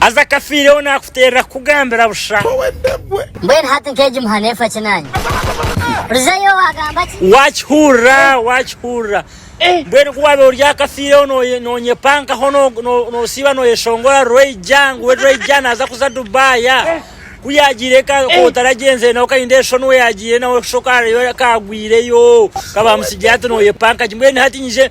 Haza akafiireho naakuteerera kukugambira busha. Mbwenu hati nk'egi muha neefa ki naanye? Hurizayo waagamba ki? Waakihurira, waakihurira. Mbwenu ku waabaire ori akafiireho noonyepankaho noosiiba nooyeshongora Rwaija ngu we Rwaija naaza kuza Dubai. Ku yaagiire eka ku otaragyenzire nawe okarinda enshoni owaagiire nawe shoka hariyo akaagwireyo ka baamutsigire hati nooyepanka gye. Mbwenu hati nyije.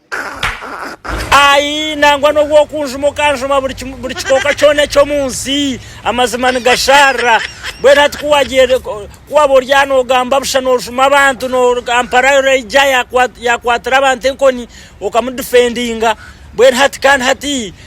Ai, nangwa n'obu okunjuma okanjuma buri kim- buri kikooka kyona eky'omu nsi, amazima nigasharira. Mbwenu hati ku wagiire- ku ku waba ori aha noogamba busha noojuma abantu, no- Kampala yo yaija yakwa- yakwatira abantu enkoni, okamudifendinga. Mbwenu hati kandi hati,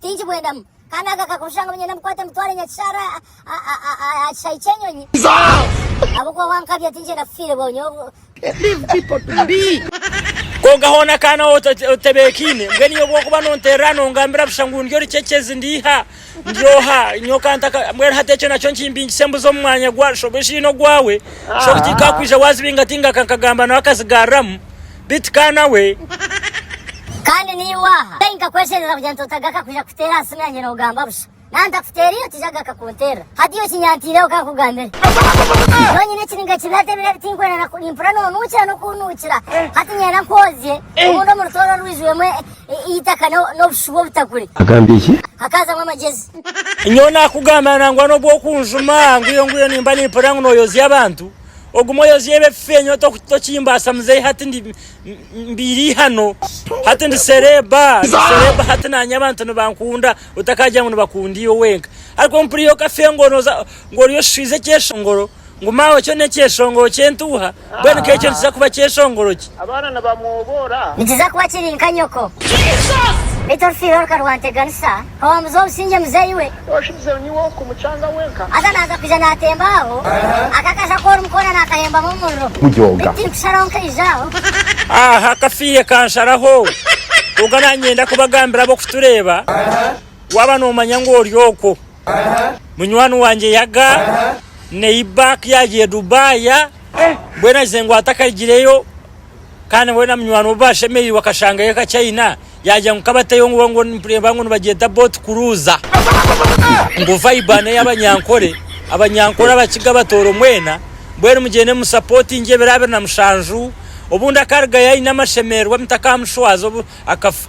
Tinkibwendamu. Kandi ako akakuru shusha ngu niinyenda mbikwate mbitware Nyakishaara aha kishaayi ky'enyonyi. Ahabw'okuba wankabya tinkyenda kufiirebwaho nyowe. Kwonka hoona ka nawe otebeekaine, mbwenu iwe obw'okuba nonteerera nongambira busha ngu ndi orucekyezi, ndi eiha, ndi oha, nyowe ka ntaka. Mbwenu hati ekyo nakyo nkimbingise mbuze omu mwanya gwa shobuja oine ogwawe. Shobuja tikakwija waazibinga tingaka nkagamba nawe akazigaariramu. Beitu ka nawe. Kandi naiwe aha. Kai nkakwesherera kugira nti otagaruka kwija kuteera aha simu yangye noogamba busha. Naaba ntakuteereire otaija kugaruka kunteerera. Hati iwe kinyanteireho ka nkugambire. Nyowe nyine ekiniga kibi hati ebiro ebi tinkwenda na ku, nimpurira noonuukira n'okunuukira. Hati nyenda nkwozye obundi omu rutooro rwijwiremu e, e, eitaka no- n'obushu bw'obutakuri. Agambye ki? Hakaazamu amagyezi. Nyowe naakugambira nangwa n'obu okunjuma ngu iyo ngu iyo nimba nimpurira ngu nooyozya abantu. Ogume oyozyeyo ebifeenyo tokimbaasa muzei hati ndi mbiire eihano hati ndi sereeba ndi sereeba hati naanye abantu nibankunda otakaagira ngu nibakunda iwe wenka ari kwonka mpuriire okafe ngu nooza ngu ori oshishwiize ekyeshongoro ngu maawe kyo n'ekyeshongoro ky'entuuha mbwenu ka ekyo nikiza kuba kyeshongoro ki? Abaana nibamwoboora. Nikiza kuba kiri nka nyoko. Beitu orufiirwe rukarwanteganisa. Owamuza obusingye muzeeyi we. Oshubizeho niiwe orikumucanga wenka. Haza naaza kwija naatemba aho. Aka kaja ku orimu koona naakahembamu omuriro. Baitu tirikusharaho nkaija aho. Aha kafiihe kansharaho. Kwonka naanyenda kubagambira ab'okutureeba, waaba noomanya ngu ori okwo. Munywani wangye yaga, neiba, ku yaagiire Dubai, mbwenu agize ngu atakagireyo, kandi weena munywani we obu baashemereirwe akashangayo akaki aine, yaagira ngu kabateyo ngu ngu nitureeba ngu nibagyeta boat cruise. Ngu vibe ano ey'abanyankore, abanyankore abakiga abatooro mwena, mbwenu mugyende mu supportinge ebiro abiri na mushanju, obundi akarugayo aine amashemererwa mutakamushwaza obu akafa.